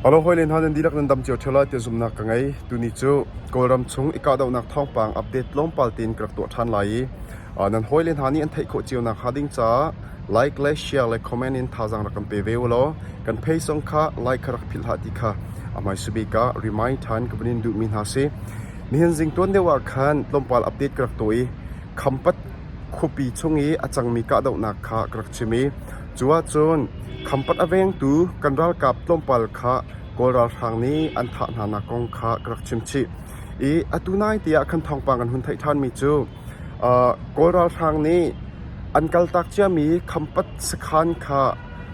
A lung hawile hna nan dihlak nan dam cio ṭheo lai tiah zumhnak ka ngei. Tuni cu Kawlram chung i kahdohnak thawngpang update tlawmpal tein ka rak tuah ṭhan lai i nan hawile hna nih an theih khawh cio nakhnga ding caah like le share le comment in thazaang rak kan pe ve u law kan page zong kha like kha rak philhhlah ti kha a hmaisa bik ah remind ṭhan ka vun in duhmi hna si. Nihin zing tuan deuh ah khan tlawmpal update ka rak tuah i Khampat khuapi chung i a cangmi kahdohnak kha ka rak chim i Cuahcun Khampat a vengtu kan ralkap tlawmpal kha Kawl ralhrang nih an thah hnanak kong kha ka rak chim chih i atu nai tiah khan thawngpang kan hun theih ṭhanmi cu Kawl ralhrang nih an kaltak ciami Khampat sakhan kha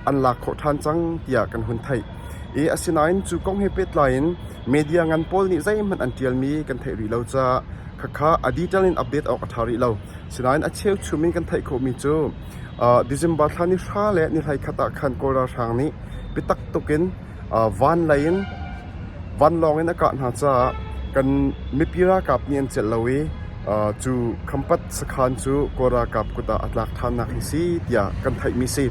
an lak khawh ṭhan cang tiah kan hun theih i asinain cu kong he pehtlai in media ngan pawl nih zeihmanh an ṭialmi kan theih rih lo caah khakha a detail in update awk a ṭha rih lo. Sinain a cheuchum in kan theih khawhmi cu December thla ni hra le ni hleikhat ah khan Kawl ralhrang nih biatak tuk in van lei in vanlawng in a kah hna caah kan mipi ralkap nih an celh lo i cu khampat sakhaan cu Kawl ralkap kut ah a tlak ṭhannak hi si tiah kan theihmi si.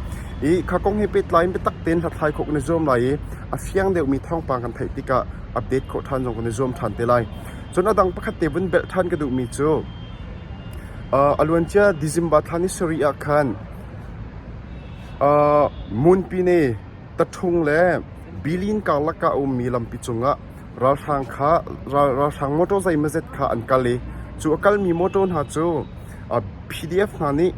I kha kong he pehtlai in biatak tein hlathlai khawh kan i zuam lai i a fiang deuhmi thawngpang kan theih tikah update khawh ṭhan zong kan i zuam ṭhan te lai. Cun a dang pakhat te vun belh ṭhan ka duhmi cu A luancia December thla ni sarih ah khan Munpine taṭhung le Bilin karlak ah a ummi lampi cungah ralhrang mawṭaw zeimawzet kha an kal i cu a kalmi mawṭaw hna cu PDF hna nih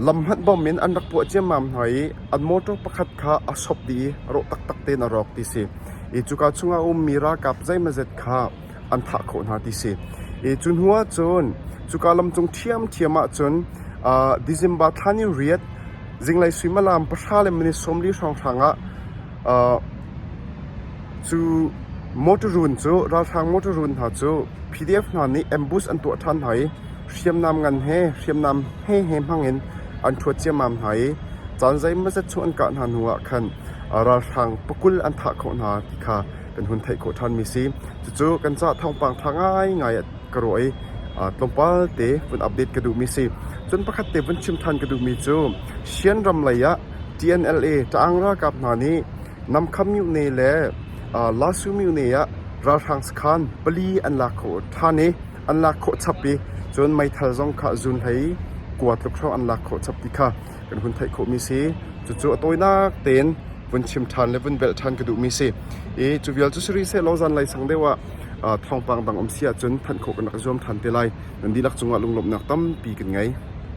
lam hmanh bawm in an rak puah ciammam hna i an mawṭaw pakhat kha a sop dih i a rawh taktak tein a rawk ti a si i cuka chungah a ummi ralkap zeimawzet kha an thah khawh hna ti si. I cu hnu ahcun cuka lamcung ṭhiamṭhiam ahcun uh, December thla ni riat zinglei suimilam pahra le minute sawmli hrawnghrang ah uh, cu motorun cu ralhrang motorun hna cu PDF hna nih ambush an tuah ṭhan hna i hriamnam ngan he hriamnam he he hmang in an ṭhuat ciammam hna i caan zeimazat chung an kah hna hnu ah khan ralhrang pakul an thah khawh hna ti kha kan hun theih khawh ṭhanmi si. Cucu kan caah thawngpang ṭha ngaingai ka ruah i tlawmpal te vun update ka duhmi si. Cun pakhat te vun chim ṭhan ka duhmi cu Shan ram lei ah TNLA Ṭaang ralkap hna nih Namkham Myone le Lasu Myone ah ralhrang sakhan pali an lak khawh ṭhan i an lak khawh chap i cun meithal zong kha zun hlei kua tluk hrawng an lak khawh chap ti kha kan hun theih khawhmi si. Cucu a tawinak tein vun chim ṭhan le vun velh ṭhan ka duhmi si. I cu vial cu siri sehlaw zanlei sang deuh ah thawngpang dang um si ahcun thanh khawh kan rak zuam ṭhan te lai. Nan dihlak cungah lunglawmhnak tampi kan ngei.